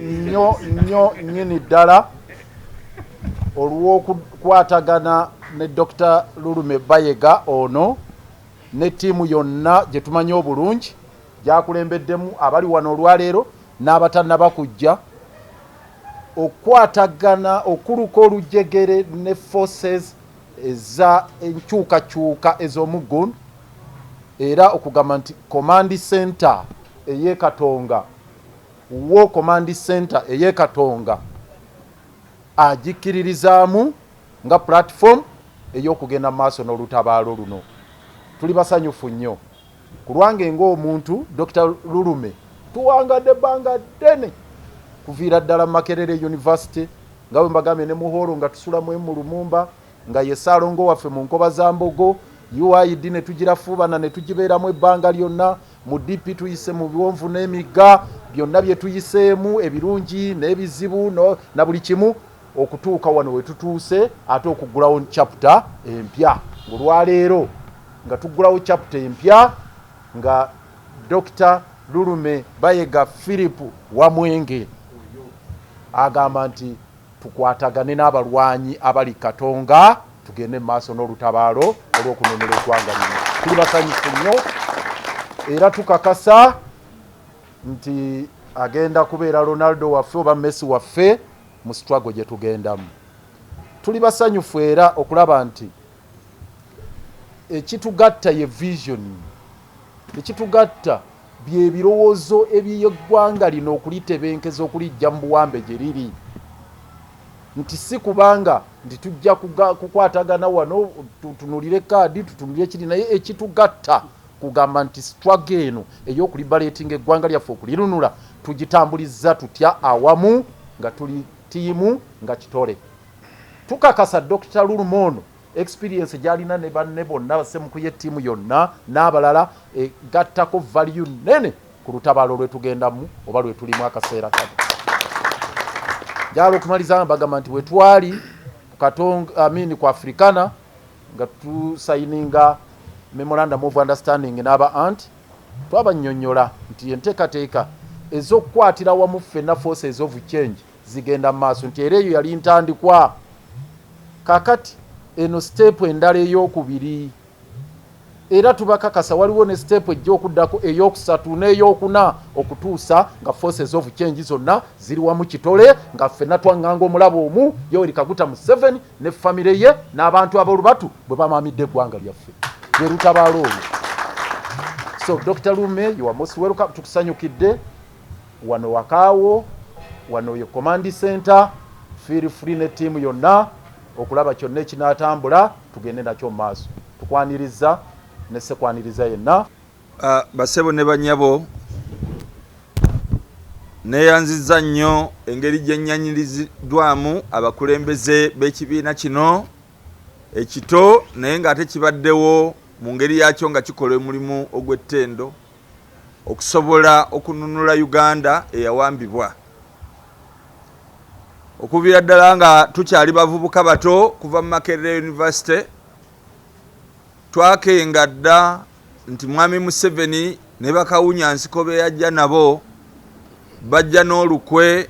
nnyo nnyo nnyini ddala olw'okukwatagana ne dr lulume bayega ono ne ttiimu yonna gye tumanyi obulungi gyakulembeddemu abali wano olwaleero n'abatanaba kujja okukwatagana okuluka olujegere ne forces eza enkyukakyuka ez'omuggun era okugamba nti command center ey'e katonga War Command Centre ey'e Katonga agikkiririzaamu nga platform ey'okugenda mu maaso n'olutabaalo luno. Tuli basanyufu nnyo. Ku lwange ng'omuntu, Dokita Lulume, tuwangadde ebbanga ddene kuviira ddala mu Makerere University nga bwe mbagambye ne mu hoolo nga tusula mu emu Lumumba nga ye Ssaalongo waffe mu Nkobazambogo, UID ne tugirafuubana ne tugibeeramu ebbanga lyonna. Mu DP tuyise mu biwonvu n'emigga, byonna bye tuyiseemu, ebirungi n'ebizibu na buli kimu okutuuka wano we tutuuse ate okuggulawo chapter empya ng'olwaleero nga tuggulawo chapter empya nga Dokita Lulume Bayega Philip Wamwenge agamba nti Tukwatagane n'abalwanyi abali Katonga tugende mu maaso n'olutabaalo olw'okununula eggwanga lino. Tuli basanyufu nnyo era tukakasa nti agenda kubeera Ronaldo waffe oba Messi waffe mu struggle gye tugendamu. Tuli basanyufu era okulaba nti ekitugatta ye vision ekitugatta Bye birowoozo eby'eggwanga lino okulitebenkeza okuliggya mu buwambe gye liri nti si kubanga nti tujja kukwatagana wano tutunulire kaadi tutunulire kiri naye ekitugatta kugamba nti struggle eno ey'okulibaleetinga eggwanga lyaffe okulirunula tugitambulizza tutya awamu nga tuli ttiimu nga kitole tukakasa dr luluma ono experience gyalina ne banne bonna basemukuye ttiimu yonna n'abalala egattako valiyu nnene ku lutabaalo lwetugendamu oba lwetulimu akaseera kano gyala okumaliza nga bagamba nti wetwali kukatong amin ku afrikana nga tusayininga memorandum of understanding n'aba ant twabanyonyola nti enteekateeka ez'okukwatira wamu ffenna forces of change zigenda mu maaso nti era eyo yali ntandikwa kakati eno siteepu endala ey'okubiri era tubakakasa waliwo ne siteepu ejja okuddako ey'okusatu n'ey'okuna okutuusa nga forces of change zonna ziri wamu kitole nga ffenna twaŋŋanga omulabo omu yoweri kaguta mu seven ne famire ye n'abantu ab'olubatu bwe bamaamidde eggwanga lyaffe lwe lutabaala olwo so dr lume yowamosi weruka tukusanyukidde Wano wakaawo, wano ye command center, feel free ne team yonna okulaba kyonna ekinatambula tugende nakyo mu maaso. Tukwanirizza ne ssekwaniriza yenna. Bassebo ne bannyabo, neyanzizza nnyo engeri gye nnyaniriziddwamu abakulembeze b'ekibiina kino ekito naye ng'ate kibaddewo mu ngeri yaakyo nga kikola omulimu ogw'ettendo. okusobola okununula Uganda eyawambibwa. Okuviira ddala nga tukyali bavubuka bato kuva mu Makerere University, twakenga dda nti Mwami Museveni ne bakawunya nsiko be yajja nabo bajja n'olukwe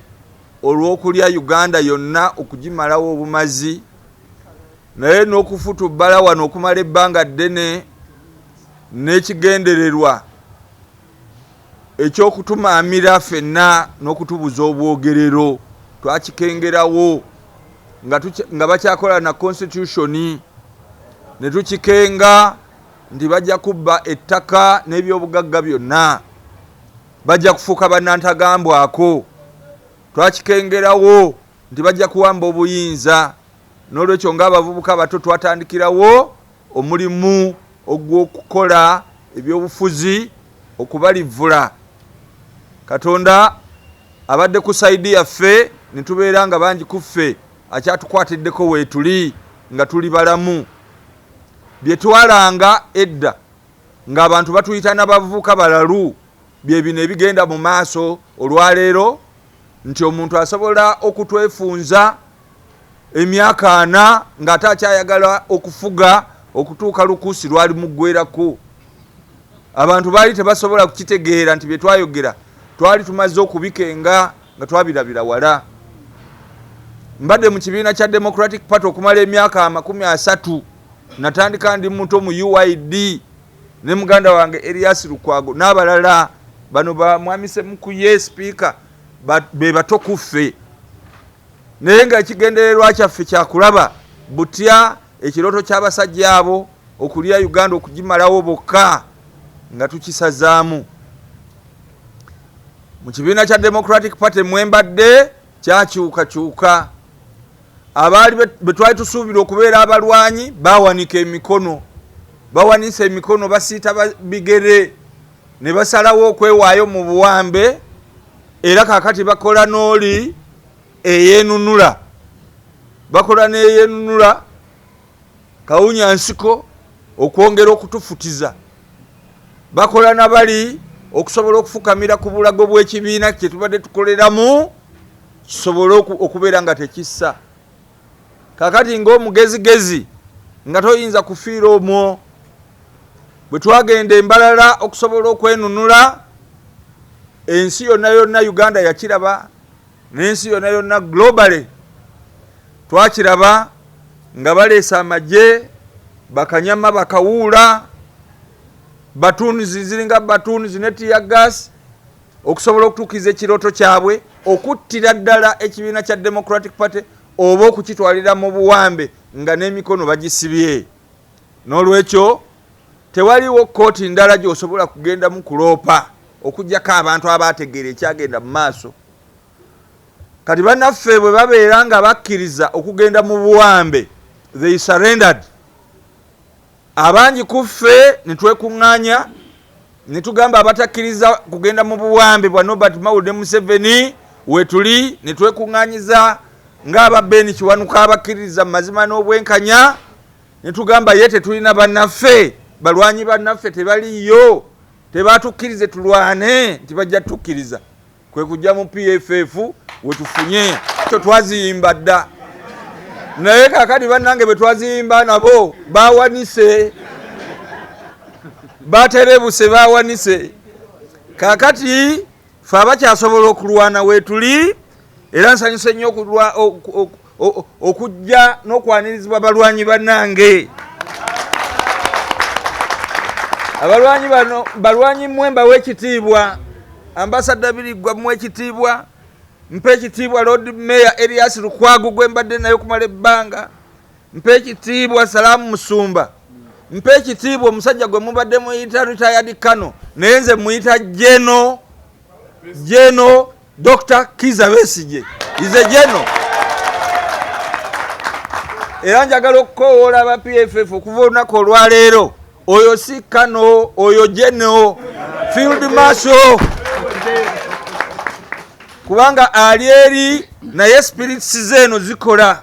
olw'okulya Uganda yonna okugimalawo obumazi. naye n'okufutubbala wano okumala ebbanga ddene n'ekigendererwa ekyokutumaamira fenna n'okutubuza obwogerero twakikengerawo nga bakyakola na konsitityushoni ne tukikenga nti bajja kubba ettaka n'ebyobugagga byonna bajja kufuuka banantagambwako twakikengerawo nti bajja kuwamba obuyinza n'olwekyo ng'abavubuka abato twatandikirawo omulimu ogw'okukola ebyobufuzi okubalivvula katonda abadde ku saidi yaffe ne tubeera nga bangi ku ffe akyatukwatiddeko weetuli nga tuli balamu bye twalanga edda ng'abantu batuyita n'abavubuka balalu bye bino ebigenda mu maaso olwaleero nti omuntu asobola okutwefunza emyaka ana ng'ate akyayagala okufuga okutuuka lukuusi lwali muggwerako abantu baali tebasobola kukitegeera nti bye twayogera twali tumaze okubikenga nga twabirabira wala mbadde mu kibiina kya democratic party okumala emyaka amakumi asatu natandika ndi muto mu uid ne muganda wange Elias Lukwago n'abalala bano ba mwami Semukuye sipiika be bato ku ffe naye nga ekigendererwa kyaffe kyakulaba butya ekirooto ky'abasajja abo okulya Uganda okugimalawo bokka nga tukisazaamu mu kibiina kya Democratic Party mwembadde kyakyukakyuka abaali betwali tusuubira okubeera abalwanyi bawanika emikono bawanisa emikono basiita bigere ne basalawo okwewaayo mu buwambe era kakati bakola n'oli eyenunula bakola neyenunula kawunya nsiko okwongera okutufutiza bakola nabali okusobola okufukamira ku bulago bw'ekibiina kyetubadde tukoleramu kisobole okubeera nga tekissa kakati ngaomugezigezi nga toyinza kufiira omwo bwe twagenda embalala okusobola okwenunula ensi yonna yonna uganda yakiraba n'ensi yonna yonna globally twakiraba nga baleese amagye bakanyama bakawuula batuunizi ziringa batuunizi ne tiya gas okusobola okutuukiriza ekirooto kyabwe okuttira ddala ekibiina kya democratic party oba okukitwalira mu buwambe nga n'emikono bagisibye n'olwekyo tewaliwo kkooti ndala gy'osobola kugendamu kuloopa okugyako abantu abaategeera ekyagenda mu maaso kati banaffe bwe babeera nga bakkiriza okugenda mu buwambe they surrendered abangi ku ffe ne twekuŋŋaanya ne tugamba abatakkiriza kugenda mu buwambe bwa nobert maul ne museveni wetuli ne twekuŋŋaanyiza ng'aba ben kiwanuka abakkiririza mu mazima n'obwenkanya ne tugamba ye tetulina bannaffe balwanyi bannaffe tebaliyo tebatukkirize tulwane nti bajja tukkiriza kwe kujja mu pff wetufunye kyo twaziyimba dda naye kakati bannange bwe twaziyimba nabo bawanise baterebuse bawanise kakati fe abakyasobola okulwana wetuli era nsanyuse nnyo okujja n'okwanirizibwa balwanyi banange abalwanyi bano balwanyi mwe mbawa ekitiibwa ambasadda biriggwa mu ekitiibwa mpa ekitiibwa lord mayor elias lukwagu gwe mbadde naye okumala ebbanga mpa ekitiibwa salaamu musumba mpa ekitiibwa omusajja gwe mubadde muyita retired kano naye nze muyita jeno jeno Dr. Kiza Besigye is a general. Era njagala okukowoola aba PFF okuva olunaku olwaleero oyo si kano oyo general field marshal kubanga ali eri naye spirits zeeno zikola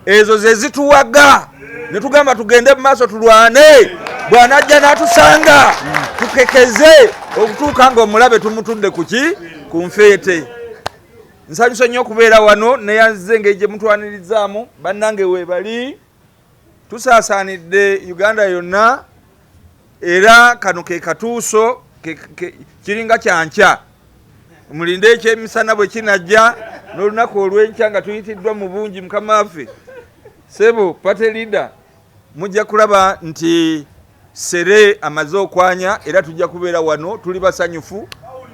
ezo ze zituwaga ne tugamba tugende mu maaso tulwane bw'anajja n'atusanga tukekeze okutuuka ng'omulabe tumutudde ku ki ku nfeete nsanyusa nnyo okubeera wano neyanzize engeri gye mutwanirizzaamu bannange weebali tusaasaanidde uganda yonna era kano ke katuuso kiringa kyankya mulinde ekyemisana bwe kinajja n'olunaku olw'enkya nga tuyitiddwa mu bungi mukama waffe sebo pate leader mujja kulaba nti sere amaze okwanya era tujja kubeera wano tuli basanyufu